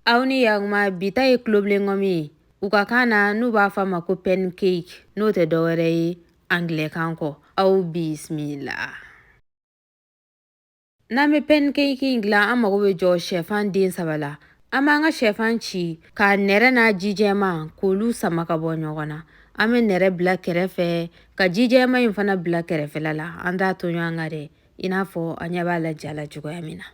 aw ni yaguma bi ta ye tulobilen ngɔmi ye u ka kan na n'u b'a fɔ a ma ko pancake n'o tɛ dɔwɛrɛ ye angilɛkan kɔ aw bisimila n'an bɛ pancake in dilan an mago bɛ jɔ shɛfan den saba la an b'an ka shɛfan ci k'a nɛrɛ n'a ji jɛman k'olu sama ka bɔ ɲɔgɔn na an bɛ nɛrɛ bila kɛrɛfɛ ka ji jɛman in fana bila kɛrɛfɛla la an t'a to ɲɔgɔn kan dɛ i n'a fɔ an ɲɛ b'a la ja la cogoya min na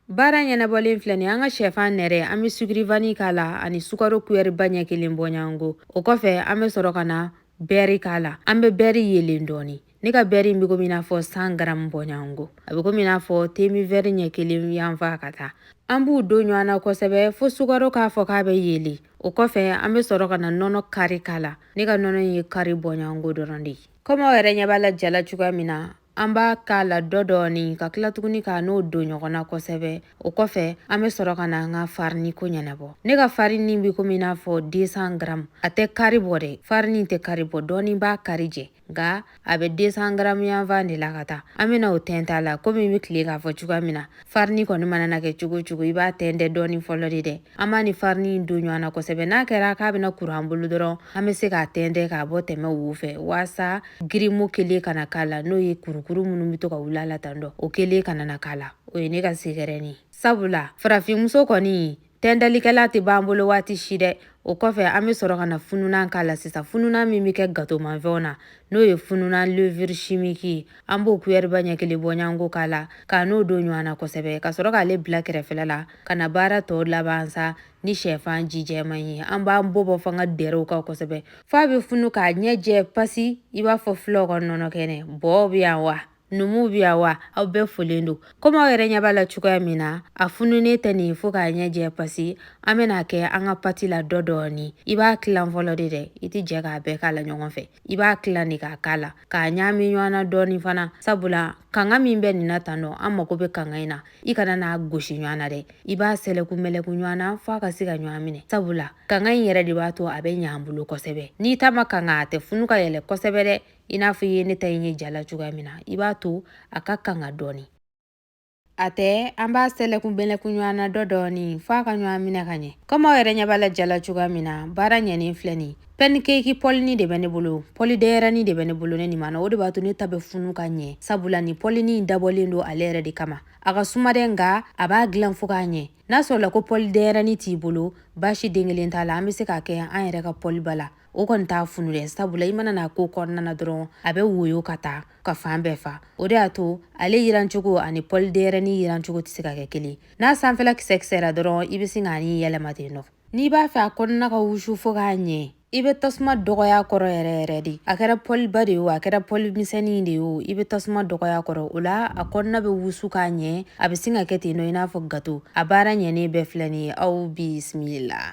Baara ɲɛnabɔlen filɛ nin an ka shɛfan nɛrɛ an bɛ sukiri vani k'a la ani sukaro kuyɛriba ɲɛ kelen bɔɲɔgɔnko o kɔfɛ an bɛ sɔrɔ ka na bɛɛri k'a la an bɛ bɛɛri yelen dɔɔni ne ka bɛɛri in bɛ komi i n'a fɔ san garamu bɔɲɔgɔnko a bɛ komi i n'a fɔ temin vɛri ɲɛ kelen yanfan ka taa an b'u don ɲɔgɔn na kosɛbɛ fo sukaro k'a fɔ k'a bɛ yelen o kɔfɛ an bɛ sɔrɔ ka na nɔnɔ kari k'a la ne ka nɔnɔ in ye kari bɔɲɔgɔnko dɔrɔn de ye kɔmi aw yɛrɛ ɲɛ b'a la ja la cogoya min na an b'a k'a la dɔ dɔɔni ka tila tuguni k'a n'o don ɲɔgɔn na kosɛbɛ o kɔfɛ an bɛ sɔrɔ ka na an ka farini ko ɲɛnabɔ ne ka farini bɛ komi i n'a fɔ 200 gram a tɛ kari bɔ dɛ farini tɛ kari bɔ dɔɔni b'a kari jɛ nka a bɛ 200 gram yanfan de la ka taa an bɛna o tɛntɛn a la komi n bɛ tile k'a fɔ cogoya min na farini kɔni mana na kɛ cogo o cogo i b'a tɛntɛn dɔɔni fɔlɔ de dɛ an b'a ni farini in don ɲɔgɔn na kosɛbɛ n'a kɛra k'a bɛna kuru an bolo dɔrɔn an bɛ se k'a tɛntɛn k'a bɔ tɛmɛ wo fɛ waasa girimo kelen kana k'a la n'o ye kurukuru minnu bɛ to ka wuli a la tan dɔ o kelen kana na k'a la o ye ne ka sekɛrɛni ye sabula farafinmuso kɔni tɛndalikɛla tɛ b'an bolo waati si dɛ o kɔfɛ an bɛ sɔrɔ ka na fununan k'a la sisan fununan min bɛ kɛ gatomanfɛnw na n'o ye fununan levure chimique ye an b'o kuyɛriba ɲɛ kelen bɔɲɔgɔnko k'a la k'a n'o don ɲɔgɔn na kosɛbɛ ka sɔrɔ k'ale bila kɛrɛfɛla la ka na baara tɔw laban sa ni shɛfan ji jɛman ye an b'an bɔbɔ fanga dɛrɛ u kan kosɛbɛ f'a bɛ funu k'a ɲɛ jɛ pasi i b'a fɔ fulaw ka nɔnɔ kɛnɛ bɔɔ bɛ yan wa Numu bi yan wa aw bɛɛ folen don komi aw yɛrɛ ɲɛ b'a la cogoya min na a fununen tɛ nin fo k'a ɲɛ jɛ pasi an bɛn'a kɛ an ka pati la dɔ dɔɔni i b'a tilan fɔlɔ de dɛ i tɛ jɛ k'a bɛɛ k'a la ɲɔgɔn fɛ i b'a tilan de k'a k'a la k'a ɲaami ɲɔgɔn na dɔɔni fana sabula kanga min bɛ nin na tan dɔ an mago bɛ kanga in na i kana n'a gosi ɲɔgɔn na dɛ i b'a sɛlɛku mɛlɛku ɲɔgɔn na f'a ka se ka ɲɔgɔn minɛ sabula kanga in yɛrɛ de b'a to a bɛ ɲɛ an bolo kosɛbɛ n'i ta ma kanga a tɛ funu ka yɛlɛn kosɛbɛ dɛ i n'a fɔ i ye ne ta in ye ja la cogoya min na i b'a to a ka kanga dɔɔni a tɛ an b'a sɛlɛku mɛlɛku ɲɔgɔn na dɔ dɔɔni fo a ka ɲɔgɔn minɛ ka ɲɛ komi aw yɛrɛ ɲɛ b'a la ja la cogoya min na baara ɲɛnen filɛ nin pancake pɔlini de bɛ ne bolo pɔli denyɛrɛni de bɛ ne bolo ne nin ma na o de b'a to ne ta bɛ funu ka ɲɛ sabula nin pɔlini in dabɔlen don ale yɛrɛ de kama a ka suma dɛ nka a b'a dilan fo k'a ɲɛ n'a sɔrɔla ko pɔli denyɛrɛni t'i bolo baasi den kelen t'a la an bɛ se k'a kɛ an yɛrɛ ka pɔliba la o kɔni t'a funu dɛ sabula i mana n'a k'o kɔnɔna na dɔrɔn a bɛ woyo ka taa ka fan bɛɛ fa o de y'a to ale yirancogo ani pɔli denyɛrɛni yirancogo tɛ se ka kɛ kelen n'a sanfɛla kisɛ kisɛra dɔrɔn i bɛ sin k'a ni yɛlɛma ten nɔ n'i b'a fɛ a kɔnɔna ka wusu fo k'a ɲɛ i bɛ tasuma dɔgɔya a kɔrɔ yɛrɛ yɛrɛ de a kɛra pɔliba de ye o a kɛra pɔli misɛnnin de ye o i bɛ tasuma dɔgɔya a kɔrɔ o la a kɔnɔna bɛ wusu k'a ɲɛ a bɛ sin ka kɛ ten nɔ i n'a fɔ gato a baara ɲɛnen bɛɛ filɛ nin ye aw bisimila